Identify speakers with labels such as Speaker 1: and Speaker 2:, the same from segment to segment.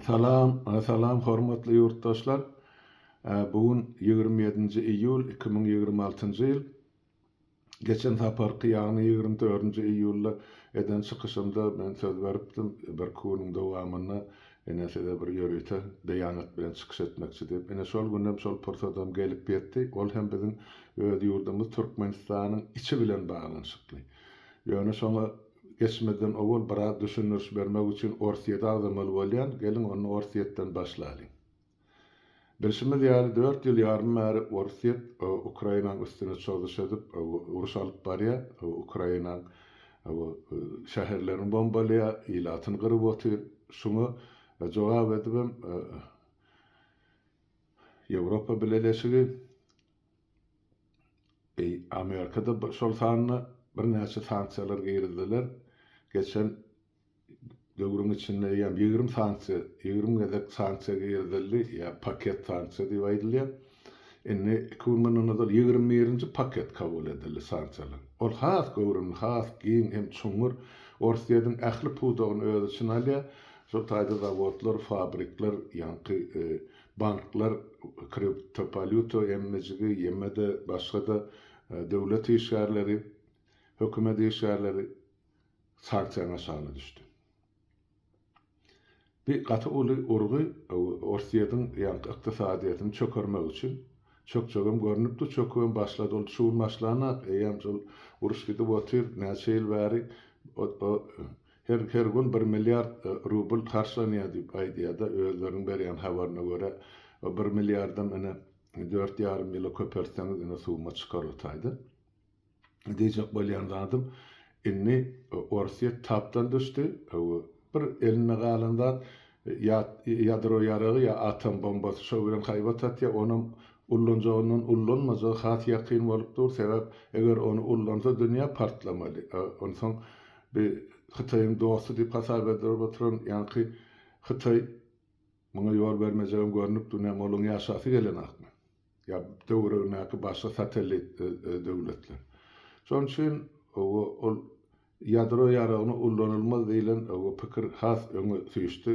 Speaker 1: Salam Salam hormatly ýurtdaşlar bu gün ýigrimi ýedinji iýul iki müň ýigrimi altynjy ýyl geçen saparky ýagny ýigrimi dördünji iýulda eden çykyşymda men söz beripdim birki günüň dowamynda ine size bir ýörite beýanat bilen çykyş etmekçi diýip ine şol günem şol pursadam gelip ýetdi ol hem biziň öz ýurdumyz türkmenistanyň içi bilen baglanyşykly ýöne şoňa Geçmeden owal biraz düşündiriş bermek üçin Orsýeti agzamaly bolýan, geliň onda Orsýetden başlalyň. Bilşimiz ýaly dört ýyl ýarym bäri Orsýet Ukrainaň üstüne çozuş edip uruş alyp barýar, Ukrainaň şäherlerini bombalaýar, ilatyny gyryp otyr, şuňa jogap edibem Ýewropa Bileleşigi, Amerikada şol sanda birnäçe sanksiýalar girizdiler. Geçen döwrüň içinde ýa ýigrimi sanksiýa, ýigrimi gezek sanksiýa girizildi, ýa paket sanksiýa diýip aýdylýar. Indi iki gün mundan ozal ýigrimi birinji paket kabul edildi sanksiýalaryň. Ol has göwrümli, has giň hem çuňňur. Orsýetiň ähli pudagyny öz içine alýar. Şol taýda zawodlar, fabrikler, ýaňky Banklar, kriptowalýuta emmijigi, ýeme-de başga-da döwlet işgärleri, hökümet işgärleri sanksiýanyň aşagyna düşdi. Bu gaty uly urgy Orsýetiň ýaňky ykdysadyýetini çökermek üçin. Çökjegem görnüpdi, çökübem başlady. Ol şu gün başlanok, eýýäm şol uruş gidip otyr, näçe ýyl bäri Her her gün bir milliard rubl harçlanýar diýip aýdýar-da, özleriniň berýän habaryna görä, o bir milliardam ine, dört ýarym ýyla köpeltseňiz ine summa çykar o taýda. Diýjek bolýan zadym, indi Orsýet tapdan düşdi, bir elinde galan zat ýa ýadro ýaragy, ýa atom bombasy, şo bilen haýbat atýar, onam ullanjagyndan ullanmajagy has ýakyn bolup dur, sebäp eger ony ullansa dünýä partlamaly, onsoň Bi Hytaýyň dosty diýip hasap edilip oturan ýaňky Hytaý muňa ýol bermejegem görnüp dur, näme olaň ýaşasy gelenakmy? Ýa töweregindäki başga satellit döwletler? Şonuň üçin ol ýadro ýaragyny ullanylmaz diýlen pikir has öňe süýşdi.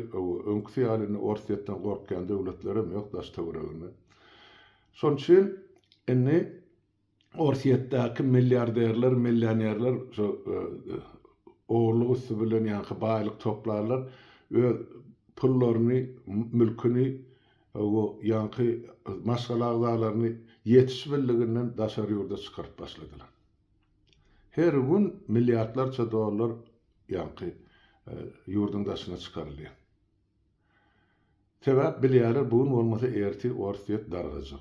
Speaker 1: Öňküsi ýaly indi Orsýetden gorkýan döwletlerem ýok daş-töwereginde. Şonuň üçin indi Orsýetdäki milliarderler, millionerler şu ogurlyk üsti bilen ýaňky baýlyk toplarlar, öz pullaryny, mülküni bu ýaňky maşgala agzalaryny ýetiş birliginden daşary ýurda çykaryp başladylar. Her gün milliardlarça dollar ýaňky ýurduň daşyna çykarylýar. Sebäp bilýärler bu gün bolmasa ertir orsýet dargajak.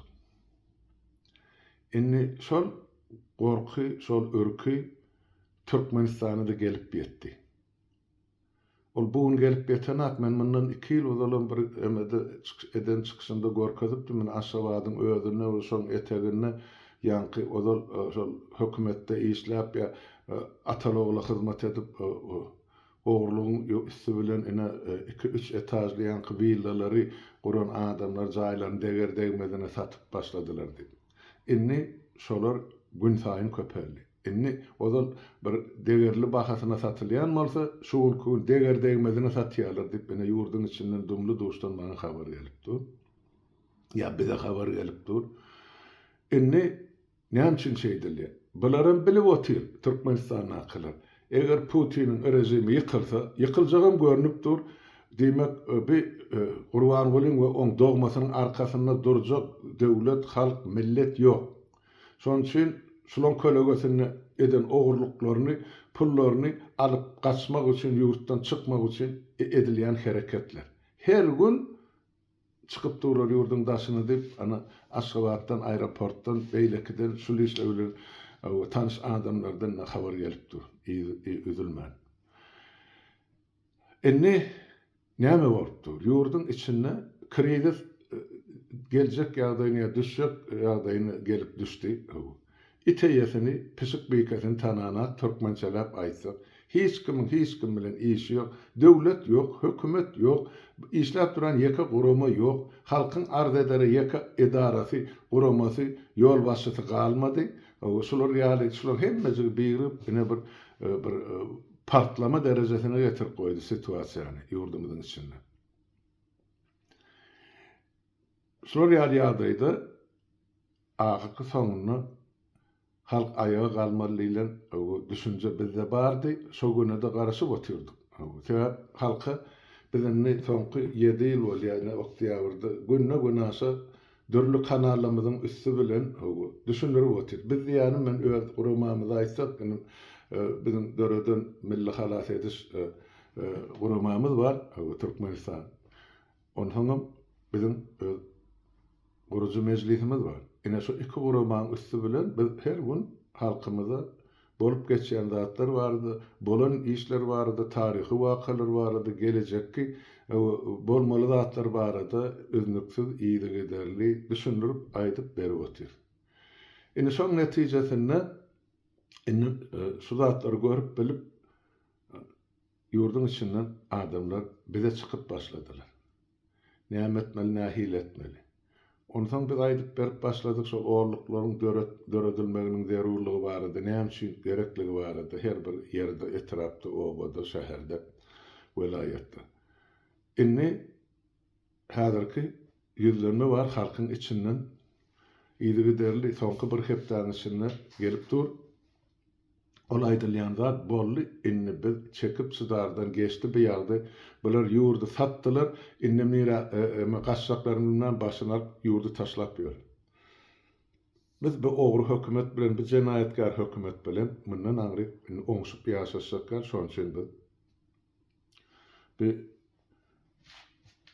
Speaker 1: Indi şol gorky şol ürki Türkmenistana-da gelip ýetdi. Ol bu gün gelip ýetenok men mundan iki ýyl ozalam bir emede çykyş eden çykyşymda görkezipdim men Aşgabadyň özünde we şoň eteginde ýaňky ozal şol hökümetde işläp ýa atal ogla hyzmat edip Ogurlygyň üsti bilen ine iki-üç etažly ýaňky willalary guran adamlar jaýlaryny deger-degmezine satyp başladylar diýip. Indi şolar günsaýyn köpeldi. Indi ozal bir degerli bahasyna satylýan bolsa, şu günki gün deger-degmezine satýarlar diýip, ine ýurduň içinden dumly-duşdan maňa habar gelip dur. Ýa bize habar gelip dur. Indi. Näme üçin şeýdilýär? Bularam bilip otyr, Türkmenistandakylar. Eger Putiniň režimi ýykylsa, ýykyljagam görnüp dur, diýmek, bi Gurbangulyň we oň dogmasynyň arkasynda durjak döwlet, halk, millet ýok. Şonuň üçin şulaň kölegesinde eden ogurlyklaryny, pullaryny alyp gaçmak üçin, ýurtdan çykmak üçin edilýän hereketler. Her gün. Çykyp durlar ýurduň daşyna diýip, ana, Aşgabatdan, aeroportdan, beýlekiden, şul işler bilen tanyş adamlardan ine habar gelip dur, yzy üzülmän. Indi näme bolup dur? Ýurduň içinde krizis geljek ýagdaýyny ýa düşjek ýagdaýyny gelip düşdi. It eýesini, pişik bikesini tananak türkmençeläp aýtsak, hiç kimiň hiç kim bilen işi ýok, döwlet ýok, hökümet ýok, işläp duran ýeke gurama ýok, halkyň arz edere ýeke edarasy, guramasy, ýolbaşçysy galmady. Şular ýaly, şular hemmejigi birigip, ine bir bir partlama derejesine getirip goýdy situasiýany ýurdumyzyň içinde. Şular ýaly ýagdaýda Ahyrky soňunda halk aýaga galmaly diýlen düşünje bizde bardy. Şo günede garaşyp otyrdyk. Sebäp halka biz indi soňky ýedi ýyl bolýar indi oktýabrda günde günaşa dürli kanalymyzyň üsti bilen düşündirip otyr. Biz diýýänim men öz guramamyzy aýtsak indi biziň döreden milli halas ediş guramamyz bar Türkmenistan Onsoňam biziň öz gurujy mejlisimiz bar. Ine şu iki guramanyň üsti bilen biz her gün halkymyza bolup geçýän zatlar barada, bolan işler barada, taryhy wakalar barada, gelejekki bolmaly zatlar barada üznüksiz, yzygiderli düşündirip aýdyp berip otyrys. Indi şoň netijesinde indi şu zatlary görüp bilip, Ýurduň içinden adamlar bize çykyp başladylar. Näme etmeli, nähili etmeli? Onsoň biz aýdyp berip başladyk şol orluklaryň döredilmeginiň zerurlygy barada, näme üçin gerekligi barada her bir ýerde, etrapda, obada, şäherde, welaýatda. Indi häzirki ýüzlenme bar halkyň içinden yzygiderli soňky bir hepdäniň içinde gelip dur. Ol aýdylýan zat boldy indi biz çekip çydardan geçdi bu ýagdy bular ýurdy satdylar indem nirä eme gaçjaklaryn bilmän başyny alyp ýurdy taşlap ýör. Biz bu ogry hökümet bilen bu jenaýatkär hökümet bilen mundan aňryk indi oňşup ýaşaşjakýar şoň üçin biz Bu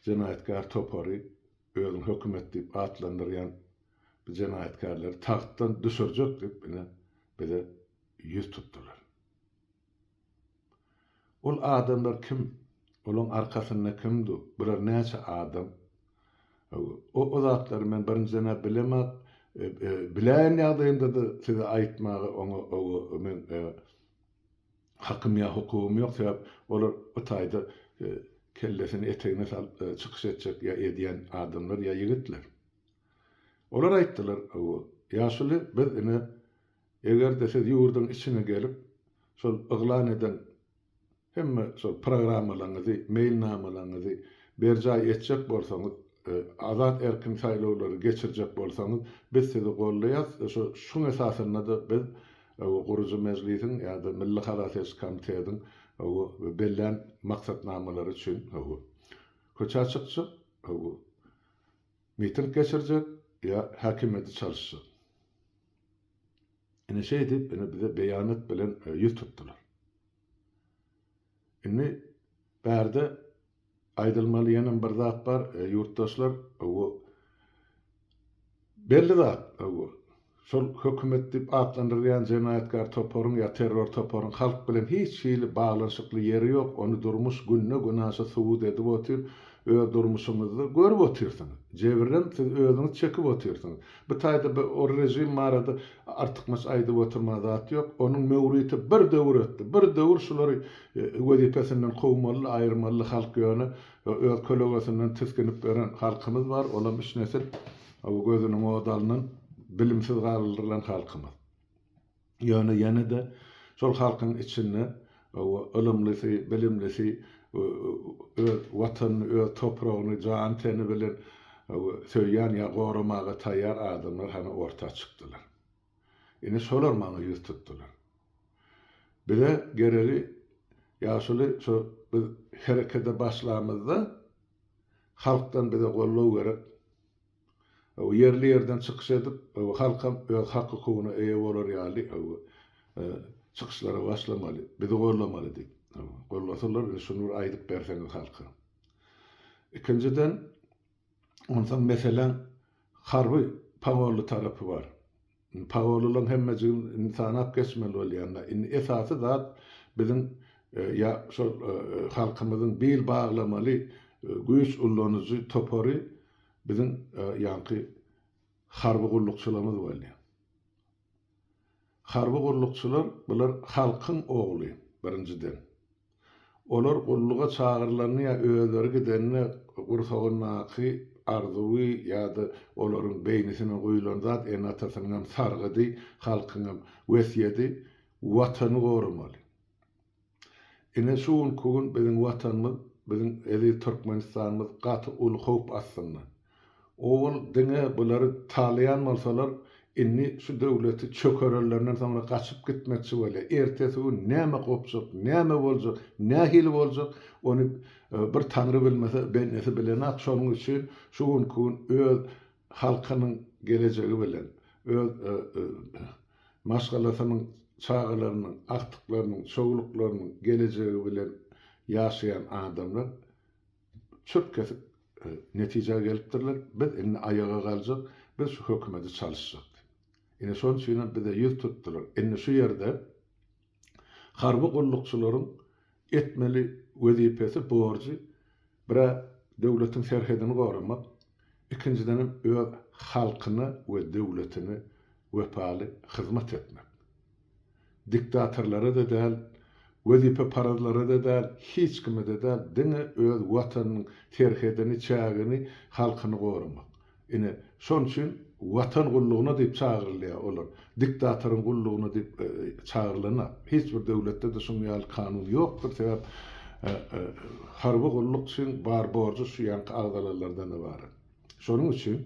Speaker 1: jenaýatkär topary özüni hökümet diýip atlandyrýan bu jenaýatkärleri tagtdan düşürjek diýip ine bize ýüz tutdylar. Ol adamlar kim? Olaň arkasynda kim du? Bular näçe adam? O zatlary men birinjiden-ä bilemok. Biläýen ýagdaýymda-da size aýtmaga oňa men hakym ýa hukugym ýok sebäp olar bu taýda kellesini etegine salyp çykyş etjek ýa edýän adamlar ýa ýigitler. Olar aýtdylar bu ýaşuly biz ine egerde siz ýurduň içine gelip şol yglan eden hemme şol programmalaňyzy meýilnamalaňyzy berjaý etjek bolsaňyz azat erkin saýlawlary geçirjek bolsaňyz biz sizi goldaýas şuň esasynda da biz we gurujy mejlisiň ýa-da milli hasaba seçiş komitetiň we bellän maksatnamalary üçin we köçä çykjak we miting geçirjek ýa häkimiýeti çalyşjak. Ine şeýdip ine bize beýanat bilen ýüz tutdular. Indi bärde Aýdylmaly ýene bir zat bar ýurtdaşlar bu belli zat bu şol hökümet diýip atlandyrylýan jenaýatkär toparyň ýa terror toparyň halk bilen hiç hili baglanyşykly ýeri ýok ony durmuş günde günaşa subut edip otyr öz durmuşyňyzda görüp otyrsyňyz jebirem siz özüňiz çekip otyrsyňyz bitaýda bir o režim barada Artykmaç aýdyp oturma zat ýok. Onuň möwriti bir döwür ötdi. Bir döwür şulary wezipesinden kowmalydy, aýyrmalydy halk ýöne öz kölegesinden tisginip ýören halkymyz bar, olam üç nesil bu gözüniň ody alnan, bilimsiz galdyrylan halkymyz. Ýöne ýene-de şol halkyň içinde Hawa, ylymlysy, bilimlisi öz Watanyny, öz topragyny jany-teni bilen söýýän ýa goramaga taýýar adamlar hany orta çykdylar. Ine, şolar maňa ýüz tutdular. Bize geregi ýaşuly şu biz herekete başlamyzda halkdan bize goldaw gerek. ýerli ýerden çykyş edip, halkam öz hak-hukugyna eýe bolar ýaly çykyşlara başlamaly, bizi gollamaly diýip, gollasalar, indi şuny bir aýdyp berseňiz halka. Ikinjiden, onsoň meseläň harby pogolly tarapy bar. Pagolalaň hemmejigin indi sanap geçmeli bolýanlar. Indi esasy zat biziň ýa şol halkymyzyň bil baglamaly güýç ullanyjy topary biziň ýaňky harby gullukçylarymyz boldy. Harby gullukçylar bular halkyň ogly birinjiden. Olar gulluga çagyrylanda ýa özleri gidende gursagyndaky arzuwy ýa-da olaryň beýnisine guýlan zat ene-atasynyňam sargydy, halkyňam wesýedi, Watany goramaly. Ine, şu günki gün biziň Watanymyz, biziň eziz Türkmenistanymyz gaty uly howp astynda. Owal diňe bulary talaýan bolsalar, indi şu döwleti çökerellerinden soňra gaçyp gitmekçi bolýar. Ertesi gün näme gopjak, näme boljak, nähili boljak, ony bir Taňry bilmese, bendesi bilenok. Şonuň üçin şu günki gün öz halkynyň gelejegi bilen, öz maşgalasynyň çagalarynyň, agtyklarynyň, çowluklarynyň gelejegi bilen ýaşaýan adamlar çöp kesip netijä gelipdirler, biz indi aýaga galjak, biz şu hökümeti çalyşjak diýip. Ine şonuň üçinem bize ýüz tutdular. Indi şu ýerde harby gullukçylaryň etmeli wezipesi, borjy bir-ä döwletiň serhedini goramak, ikinjidenem öz halkyna we döwletine wepaly hyzmat etmek. Diktatorlara-da däl, wezipeparazlara-da däl, hiç kime-de däl, diňe öz Watanynyň serhedini, çägini, halkyny goramak. Ine, şonuň üçin Watan gullugyna diýip çagyrylýar olar. Diktatoryň gullugyna diýip çagyrylan-a. Hiç bir döwletde-de şunuň ýaly kanun ýokdur, sebäp harby gulluk üçin bar borjy şu ýaňky agzalalardan ybarat. Şonuň üçin,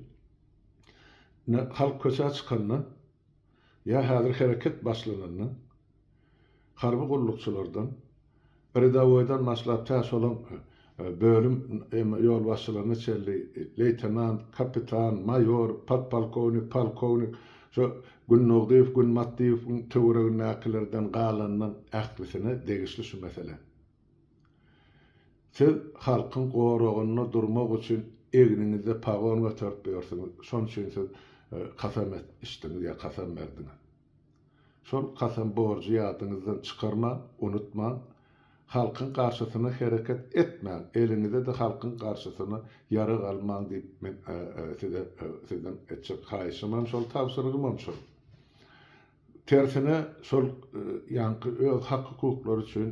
Speaker 1: ine, halk köçä çykanda, Ýa häzir hereket başlananda harby gullukçylardan, rýadowoýdan başlap tä şolaň bölüm ýolbaşçylaryna çenli leýtenant, kapitan, maýor, podpolkownik, polkownik, şo Gündogdyýew, Günbatdyýewiň töweregindäkilerden galandan ählisine degişli şu mesele. Siz halkyň goragynda durmak üçin egniňizde pagon göterip ýörsüňiz, şonuň üçin siz kasam içdiňiz ýa kasam berdiňiz. Şol kasam borjy ýadyňyzdan çykarmaň, unutmaň. Halkyň garşysyna hereket etmäň, eliňize-de halkyň garşysyna ýarag almaň diýip men size sizden etjek haýyşymam şol, tabşyrygymam şol. Tersine şol ýaňky öz hak-hukuklary üçin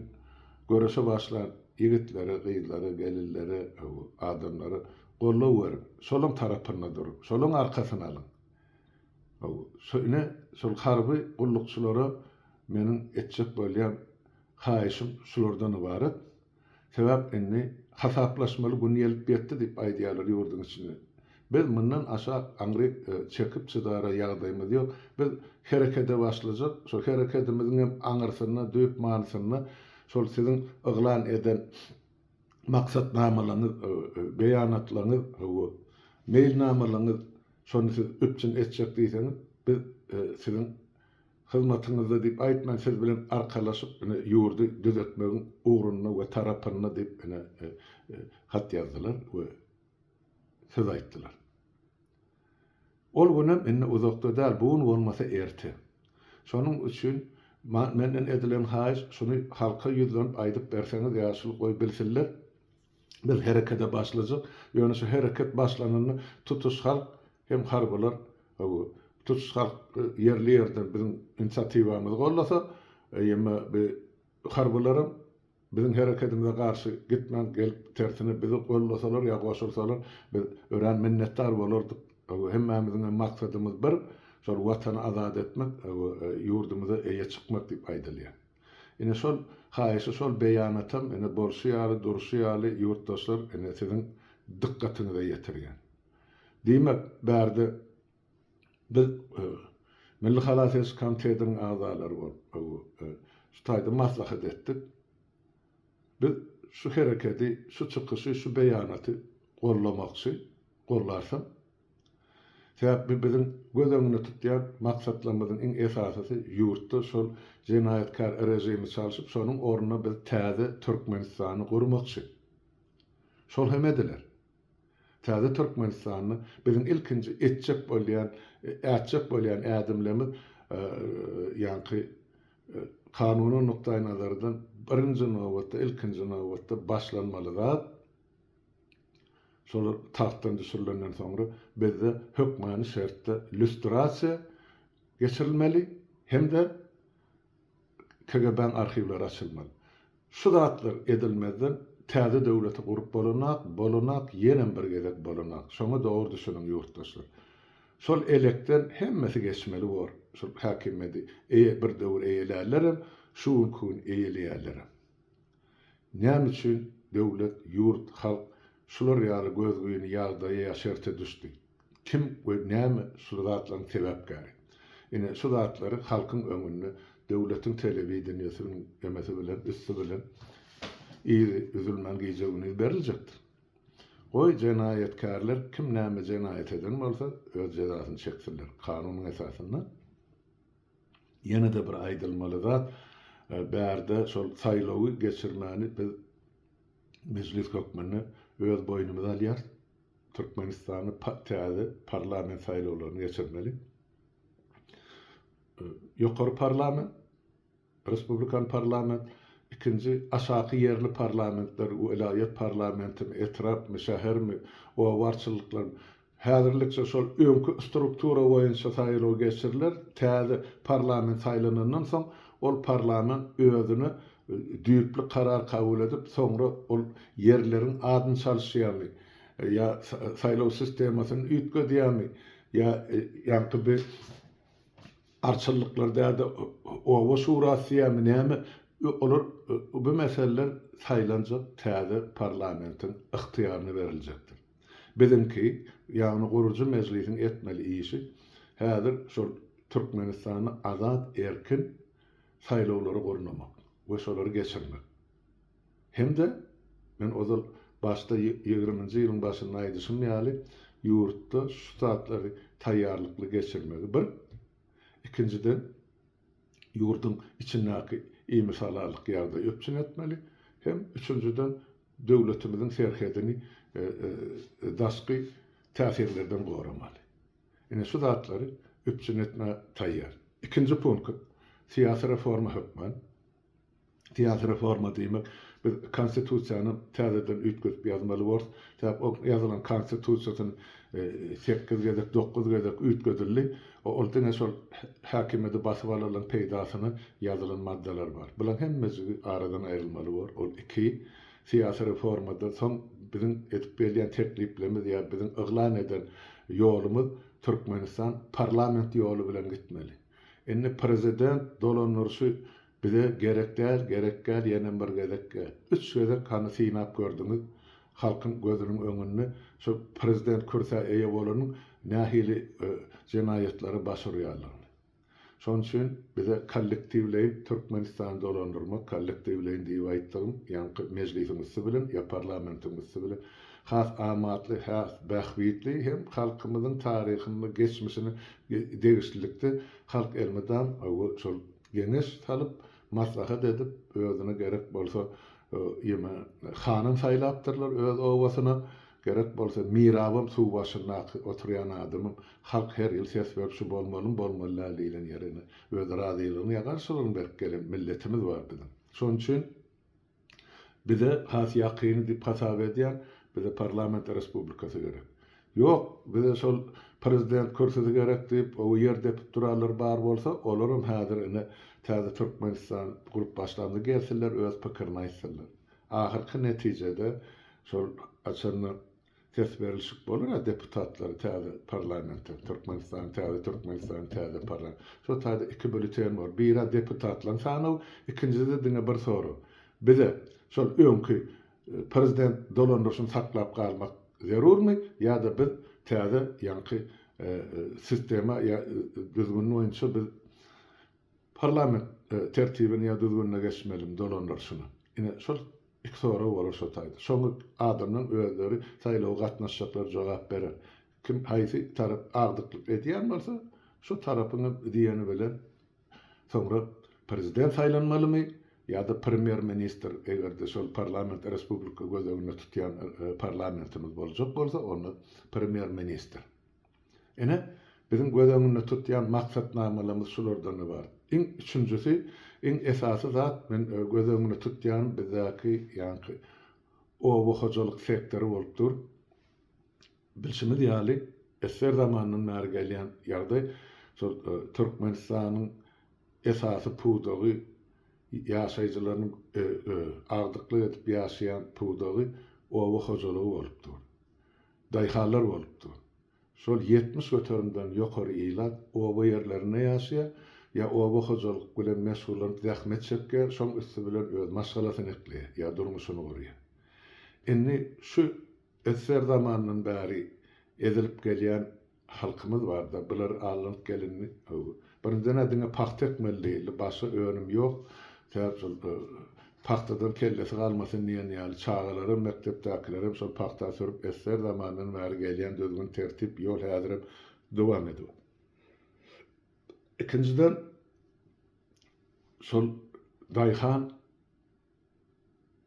Speaker 1: göreşe başlan ýigitlere, gyzlara, gelinlere, adamlara goldaw beriň. Şolaň tarapynda duruň. Şolaň arkasyny alyň. Ine, şol harby gullukçylara meniň etjek bolýan haýyşym şulardan ybarat. Sebäp indi hasaplaşmaly gün gelip ýetdi diýip aýdýarlar ýurduň içinde. Biz mundan aşa aňry çekip çydara ýagdaýymyz ýok. Biz herekede başlajak. Şol herekedimiziň hem aňyrsynda, düýp manysynda şol siziň yglan eden maksatnamalaryňyz, beýanatlaryňyz, hawa, meýilnamalaryňyz, şony siz üpjün etjek diýseňiz, biz siziň Hyzmatyňyzda diýip aýtman siz bilen arkalaşyp ine ýurdy düzetmegiň ugrunda we tarapynda diýip ine hat ýazdylar we söz aýtdylar. Ol günem indi uzakda däl bu gün bolmasa erte. Şonuň üçin menden edilen haýyş şuny halka ýüzlenip aýdyp berseňiz ýaşuly goý bilsinler. Biz herekede başlajak. Ýöne şu hereket başlananda tutuş halk hem harbylar bu tutuş halk ýerli ýerden biziň inisiatiwamyzy gollasa, eýýäm bi harbylaram biziň herekedimize garşy gitmän gelip tersine bizi gollasalar ýa goşulsalar biz örän minnetdar bolardyk. Bu hemmämiziňem maksadymyz bir, şol watany azat etmek, bu ýurdumyza eýe çykmak diýip aýdylýar. Ine şol haýyşy şol beýanatam ine bolşy ýaly durşy ýaly ýurtdaşlar ine siziň dykgatyňyza ýetirýän. Diýmek bärde biz Milli halas ediş komitetiniň agzalary bolup şu taýda maslahat etdik. Biz şu herekedi şu çykyşy şu beýanaty gollamakçy, gollarsyň. Sebäbi bu biziň göz öňünde tutýan maksatlarymyzyň iň esasysy, ýurtda şol jenaýatkär režimi çalşyp, şonuň ornuna biz täze Türkmenistany gurmakçy. Şol hem ediler. Täze Türkmenistanda biziň ilkinji etjek bolýan, ätjek bolýan ädimlerimiz ýaňky kanuny nukdaýnazardan birinji nobatda, ilkinji nobatda başlanmaly zat, Şolar tagtdan düşürilenden soňra bizde hökmany şertde lýustrasiýa geçirilmeli hem-de KGB-niň arhiwleri açylmaly. Şu zatlar edilmezden täze döwleti gurup bolanak, bolanak, ýenem bir gezek bolanak. Şoňa dogry düşüniň ýurtdaşlar. Şol elekden hemmesi geçmeli bor, şol häkimiýedi eýe bir döwür eýelärlerem, şu günki gün eýeleýärlerem. Näme üçin döwlet, ýurt, halk şular ýaly gözgyny ýagdaýa ýa şerte düşdi? Kim we näme şul zatlaryň sebäpkäri? Ine, şu zatlary halkyň öňünde döwletiň telewideniýesiniň emesi bilen, üsti bilen yzy üzülmän gije-gündiz beriljekdir. Goý, jenaýatkärler kim näme jenaýat eden bolsa, öz jezasyny çeksinler, kanunyň esasynda. Ýene-de bir aýdylmaly zat, bärde şol saýlawy geçirmäni biz Mejlis hökmünde öz boýnumyza alýarys. Türkmenistanda täze parlament saýlawlaryny geçirmeli. Ýokary parlament, respublikan parlament, ikinji aşaky ýerli parlamentler, welaýat parlamentimi, etrapmy, şähermi, obarçylyklarymy, Häzirlikçe şol öňki struktura boýunça saýlaw geçiriler, täze parlament saýlanandan soň, ol parlament özüne düýpli karar kabul edip, soňra ol ýerleriň adyny çalyşýarmy ýa saýlaw sistemasyny üýtgedýärmi ýa ýaňky bi arçylyklar däl-de oba şurasy diýýärmi näme, olar bu meseleler saýlanjak täze parlamentiň ygtyýaryna beriljekdir. Biziňki, ýagny gurujy mejlisiň etmeli işi häzir şol Türkmenistanda azat erkin saýlawlary gurnamak we şolary geçirmek. Hem-de men ozal başda ýigriminji ýylyň başynda aýdyşym ýaly ýurtda şu zatlary taýýarlykly geçirmegi bir, ikinjiden, ýurduň içindäki imishalallyk ýagdaýy üpjün etmeli hem üçünjiden, döwletimiziň serhedini daşky täsirlerden goramaly. Ine, şu zatlary üpjün etmäge taýýar. Ikinji punkt, syýasy reforma hökmän, Syýasy reforma diýmek, biz Konstitusiýany täzeden üýtgedip ýazmaly borus. Sebäp o ýazylan Konstitusiýasyn sekiz gezek, dokuz gezek üýtgedildi. Ol diňe şol häkimiýeti basyp alalyň peýdasyna ýazylan maddalar bar. Bulaň hemmejigi aradan aýrylmaly bor. Ol iki, syýasy reformada soň biziň edip gelýän tekliplerimiz ýa biziň yglan eden ýolumyz Türkmenistan parlament ýoly bilen gitmeli. Indi prezident dolandyryşy bize gerek däl, gerek däl, ýene bir gezek gel. Üç gezek hany synap gördüňiz, halkyň gözüniň öňünde şu prezident kürsä eýe bolanyň nähili jenaýatlary baş urýandygyny. Şonuň üçin bize kollektiwleýin Türkmenistany dolandyrmak, kollektiwleýin diýip aýtdygym, ýaňky mejlisiň üsti bilen ýa parlamentiň üsti bilen has amatly, has bähbitli hem halkymyzyň taryhyny, geçmişini degişlilikde halk elmydam şol geňeş salyp, maslahat edip, özüne gerek bolsa ýeme hanym saýlapdyrlar öz obasyna, gerek bolsa mirabam suw başyndaky oturýan adamam halk her ýyl ses berip şu bolmalymy, bolmaly däl diýlen ýerine öz razylygyny ýa garşylygyny berip gelen milletimiz bar biziň. Şonuň üçin. Bize has ýakyny diýip hasap edýän, bize parlament respublikasy gerek. Ýok, bize şol prezident kürsüsi gerek diýip, oba ýer depip duranlar bar bolsa, olaram häzir ine täze Türkmenistan gurup başlanda gelsinler öz pikirini aýtsynlar. Ahyrky netijede şol haçanda Ses berilşik bolar a deputatlar täze parlamente türkmenistan täze türkmenistan täze parla şo taýda iki býulleten bor biri a deputatlaryň sanaw ikinjisi diňe bir sorag bize şol öňki prezident dolandyryşyny saklap galmak zerurmy ýada biz täze ýaňky sistema ýa düzgün boýunça biz parlament tertibini ýa düzgünine geçmelimi dolandyryşyny ine şol Iki sorag bolar şo taýda. Şoňa adamlaryň özleri saýlawa gatnaşjaklar jogap berer. Kim haýsy tarap agdyklyk edýän bolsa, şo tarapyň hem diýeni bilen soňra prezident saýlanmalymy ýa-da premýer ministr eger-de şol parlament respublika göz öňünde tutýan parlamentimiz boljak bolsa onda premýer ministr. Ine, biziň göz öňünde tutýan maksatnamalarymyz şulardan ybarat. Iň üçünjisi, iň esasy zat, men göz öňünde tutýanym bizdäki ýaňky oba hojalyk sektory bolup dur. Bilşimiz ýaly, esger zamandan bäri gelýän ýagdaý, şol Türkmenistanyň esasy pudagy, ýaşaýjylarynyň agdyklyk edip ýaşaýan pudagy oba hojalygy bolup dur. Daýhanlar bolupdyr. Şol ýetmiş göterimden ýokary ilat oba ýerlerinde ýaşaýar, ýa oba hojalyk bilen meşgullanyp zähmet çekýär, şoň üsti bilen öz maşgalasyny ekleýär, ýa durmuşyny gurýar. Indi şu SSR zamanyndan bäri ezilip gelýän Halkymyz barda bular alnyp gelindi how. Birinji nä diňe pagta ekmeli diýildi başga önüm ýok sebäp şol pagtadan kellesi galmasyn diýen ýaly çagalaram mekdepdäkilerem şol pagta sürüp esger zamandan bäri gelýän düzgün tertip ýol häzirem dowam edip ikinjiden şol daýhan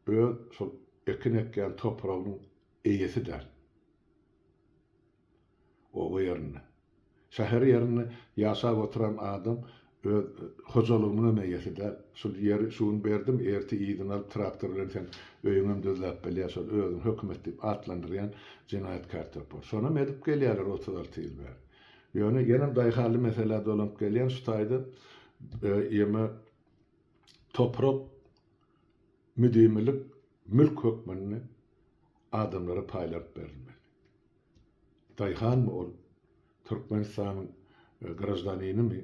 Speaker 1: öz şol ekin ekýän topragynyň eýesi däl Oba ýerinde, şäher ýerinde ýaşap oturan adam öz hojalygynyň hem eýesi däl. Şul ýeri şu gün berdim, ertir yzyny alyp traktor bilen sen öýüňem düzläp bilýär, şol özüň hökümet diýip atlandyrýan jenaýatkär topar. Şonam edip gelýärler otuz alty ýyl bäri. Ýöne ýenem daýhanly meselä dolanyp gelýän şu taýda ýeme toprak müdimilik mülk hökmünde adamlara paýlanyp berilmeli. Daýhanmy ol? Türkmenistanyň graždaninimi?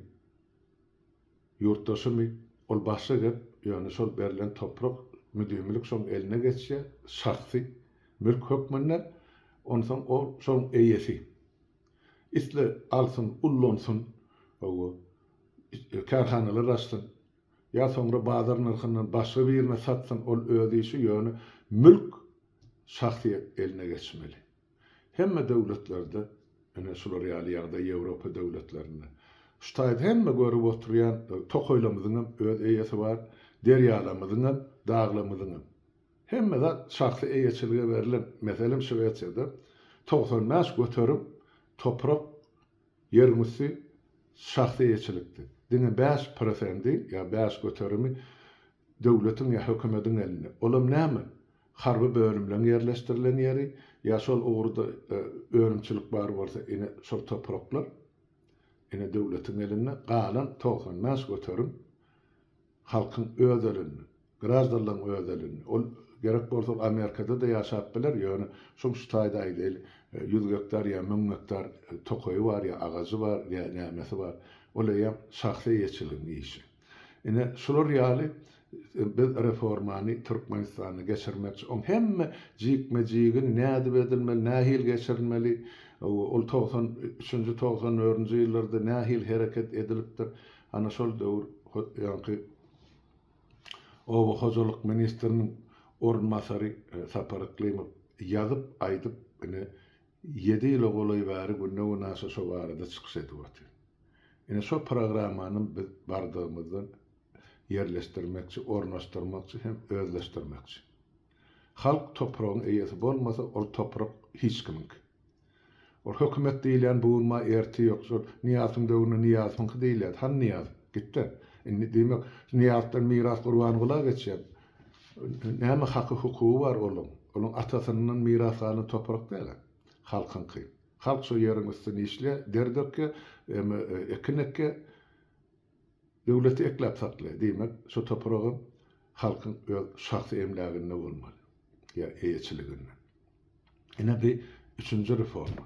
Speaker 1: Ýurtdaşymy? Ol başga gep, ýöne şol berlen toprak müdimilik şoň eline geçýär, şahsy mülk hökmünde, onsoň ol şoň eýesi. Isle alsyn, ullansyn, hawa, kärhanalar açsyn, ýa soňra bazar nyrhyndan başga birine satsyn, ol öz işi, ýöne mülk şahsyýet eline geçmeli. Hemme döwletlerde, ine şular ýaly ýagdaý Ýewropa döwletlerinde. Şu taýda hemme görüp oturýan tokaýlarymyzyň hem öz eýesi bar, derýalarymyzyň hem, daglarymyzyň hem. Hemme zat şahsy eýeçilige berlen. Meselem Şwesiýada togsan bäş göterim toprak Ýeriň üsti şahsy eýeçilikdi. Diňe bäş prosendi ýa bäş göterimi döwletiň ýa hökümediň elinde. Olam näme? Harby bölümleň ýerleşdirilen ýeri ýa şol ugurda önümçilik bar bolsa ine şol topraklar ine döwletiň elinde. Galan togsan bäş göterim. Halkyň öz elinde. Graždanlaryň öz elinde. Ol gerek bolsa ol Amerikada-da ýaşap biler, ýöne şoň şu taýda aýdaýly, ýüz gektar ýa müň gektar tokaýy bar ýa agajy bar ýa nämesi bar. Ol eýýäm şahsy eýeçiligiň işi. Ine, şular ýaly biz reformany Türkmenistanda geçirmekçi. Oň hemme jikme-jigini nädip edilmeli, nähili geçirilmeli, ol togsan üçünji, togsan dördünji ýyllarda nähili hereket edilipdir, Ana şol döwür ýaňky oba hojalyk ministriniň orunbasary Sapar Yklymow ýazyp, aýdyp, ine, ýedi ýyla golaý bäri günde-günaşa şo barada çykyş edip otyr. Ine, şo programmanam biz bardygymyzdan ýerleşdirmekçi, ornaşdyrmakçy hem özleşdirmekçi. Halk topragyň eýesi bolmasa, ol toprak hiç kimiňki. Ol hökümet diýilýän bugunma erti ýok. Şol Nyýazowyň döwründe Nyýazowyňky diýilýärdi. Han Nyýaz, gitde. Indi diýmek, Nyýazdan miras Gurbangula geçýär. Näme haky hukugy bar olyň? Olyň atasyndan miras galan toprak däl-ä. Halkyňky. Halk şo ýeriň üstüni işleýär, der dökýär, ekin ekýär. Döwleti ekläp saklaýar, diýmek, şu topragam halkyň öz şahsy emläginde bolmaly, ýa eýeçiliginde. Ine bi üçünji reforma.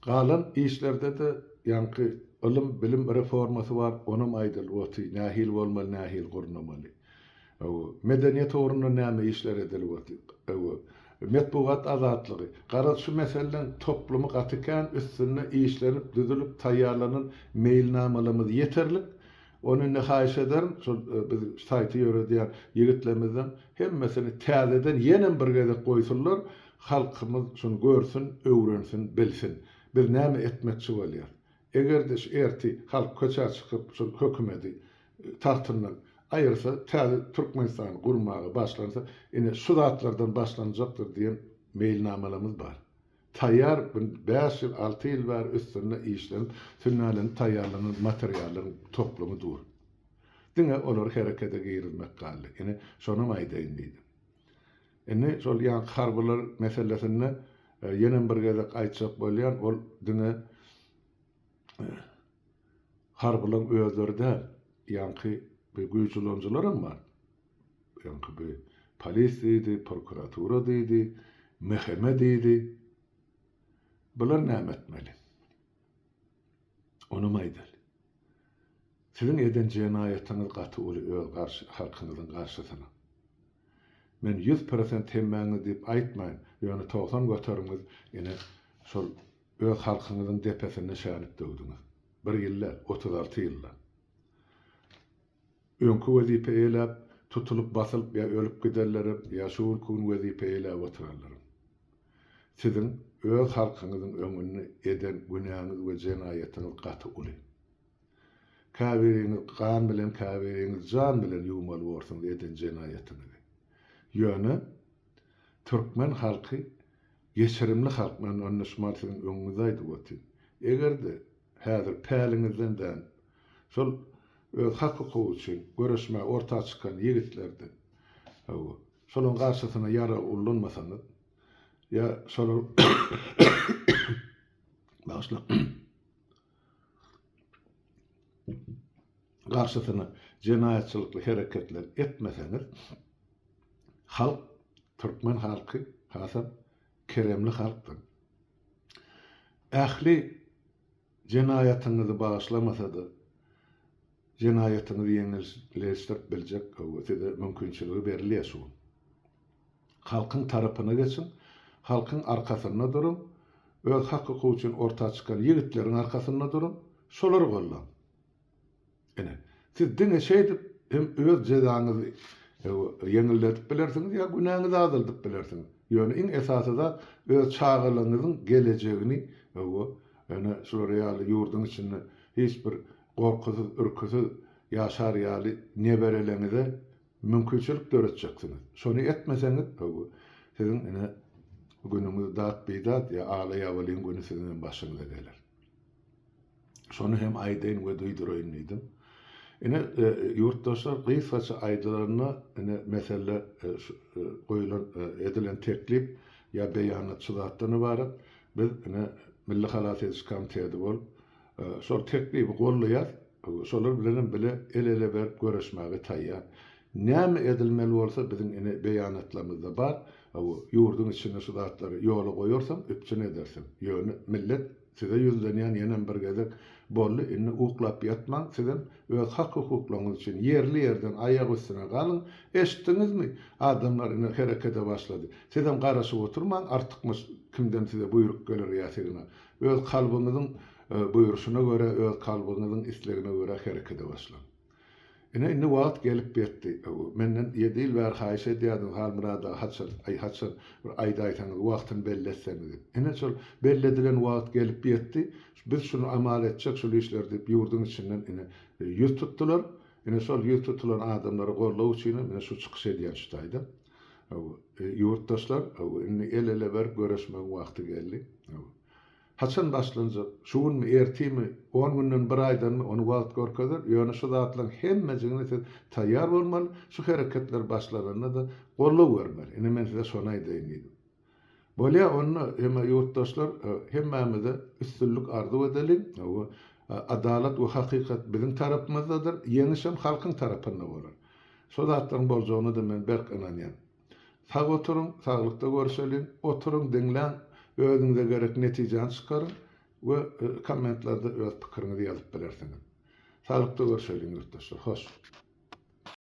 Speaker 1: Galan işlerde-de ýaňky ylym, bilim reformasy bar, onam aýdylyp oty, nähili bolmaly, nähili gurnamaly. Hawa, medeniýet ugrunda näme işler edilip otyr? Hawa, metbugat azatlygy. Garaz, şu meseleleň toplumy gaty kän, üstünde işlenip, düzülip taýýarlanan meýilnamalarymyz ýeterlik. Ony indi haýyş ederin, şol biz saýty ýöredýän ýigitlerimizden hemmesini täzeden ýenem bir gezek goýsunlar, halkymyz şuny görsün, öwrensin, bilsin. Biz näme etmekçi bolýarys? Eger-de şu ertir halk köçä çykyp şol hökümedi tagtyndan aýyrsa, täze Türkmenistany gurmaga başlansa, ine şu zatlardan başlanjakdyr diýen meýilnamalarymyz bar. Taýýar bu bäş ýyl, alty ýyl bäri üstünde işlenip, sünnälenip taýýarlanan materiallaryň toplumy dur. Diňe olary herekete girizmek galdy. Ine, şonam aýdaýyn diýdim. Indi şol ýanky harbylar meselesinde ýenem bir gezek aýtjak bolýan, ol diňe harbylaň özleri däl, ýanky bi güýç ulanyjylaram bar. Ýanky bi polis diýdi, prokuratura diýdi, mhme diýdi. Bular näme etmeli? Onam aýdaly. Siziň eden jenaýatyňyz gaty uly öz garşy halkyňyzyň garşysyna. Men ýüz prosent hemmäňiz diýip aýtmaýyn, ýöne togsan göterimgiz ine şol öz halkyňyzyň depesinde şänip döwdüňiz. Bir ýyl däl, otuz alty ýyllap. Öňki wezipe eýläp, tutulyp basylyp ýa ölüp giderlerim, ýa şu günki gün wezipe eýläp oturarlarym. Siziň öz halkyňyzyň öňünde eden günäňiz we jenaýatyňyz gaty uly. Käbiriňiz gan bilen, käbiriňiz jan bilen ýuwmaly borsuňyz eden jenaýatyňyzy. Ýöne türkmen halky geçirimli halk, men onda şumal siziň öňüňize aýdyp otyryn. Eger-de häzir päliňizden dän Şol öz hak-hukugy üçin göreşmäge orta çykan ýigitlerdi. Hawa, şolaryň garşysyna ýarag ullanmasaňyz, ýa şolar bagyşla, garşysyna jenaýatçylykly hereketler etmeseňiz, halk, türkmen halky hasam keremli halkdyr. Ähli. Jenaýatyňyzy bagyşlamasa-da, jenaýatyňyzy ýeňilleşdirip biljek gowy size mümkinçiligi berilýär şu gün. Halkyň tarapyna geçiň, halkyň arkasynda duruň, öz hak-hukugy üçin orta çykan ýigitleriň arkasynda duruň, şolary gollaň. Ine, siz diňe şeýdip hem öz jezaňyzy ýeňilledip bilersiňiz ýa günäňizi azaldyp bilersiňiz. Ýöne iň esasy zat öz çagalaňyzyň gelejegini ene şular ýaly ýurduň içinde hiç bir gorkusyz, ürküsiz ýaşar ýaly nebereleňize mümkinçilik döretjeksiňiz. Şony etmeseňiz, siziň ine günüňiz dat-bidat ýa ala-ýabalyň güni siziňem başyňyza geler. Şony hem aýdaýyn we duýduraýyn diýdim. Ine, e, ýurtdaşlar gysgaça aýdylanda, ine, mesele e, e, goýulan, edilen teklip ýa beýanat şu zatdan ybarat. Biz ine Milli halas ediş komiteti bolup, şol teklibi gollaýar, şolar bilen hem bile el-ele berip göreşmäge taýýar. Näme edilmeli bolsa biziň ine beýanatlarymyzda bar, ýurduň içinde şu zatlary ýola goýarsaň üpjün edersiň. Ýöne millet Size ýüzlenýän ýenem bir gezek, boldy indi uklap ýatmaň, sizem öz hak-hukuklaryňyz üçin ýerli-ýerden aýak üstüne galyň, eşitdiňizmi? Adamlar ine herekede başlady. Sizem garaşyp oturmaň, artykmaç kimden size buýruk geler ýa signa. Öz kalbyňyzyň buýruşyna görä, öz kalbyňyzyň islegine görä herekede başlaň. Ine, indi wagt gelip ýetdi. Menden ýedi ýyl bäri haýyş edýärdiňiz Halmyrat aga, haçan, aý, haçan bir aýdaýsaňyz, wagtyny belli etseňiz diýip. Ine, şol belli edilen wagt gelip ýetdi. Biz şuny amal etjek, şul işleri diýip, ýurduň içinden, ine, ýüz tutdular. Ine, şol ýüz tutulan adamlary goldaw üçinem, ine, şu çykyş edýän şu taýda. Hawa, ýurtdaşlar, hawa, indi el-ele berip göreşmegiň wagty geldi. Hawa. Haçan başlanjak? Şu günmi, ertimi, on günden, bir aýdanmy, ony wagt görkezer, ýöne şu zatlaryň hemmejigine siz taýýar bolmaly, şu hereketler başlananda-da goldaw bermeli. Ine, men size şony aýdaýyn diýdim. Bolýa, onda, hemme ýurtdaşlar, hemmämize üstünlik arzuw edeliň. Hawa, adalat we hakykat biziň tarapymyzdadyr, ýeňişem halkyň tarapynda bolar. Şo zatlaryň boljagyna-da men berk ynanýan. Sag oturyň, saglykda görüşeliň, oturyň, diňläň, özüňize gerek netijäni çykaryň we kommentlarda öz pikiriňizi ýazyp bilersiňiz. Saglykda görüşeliň ýurtdaşlar, hoş.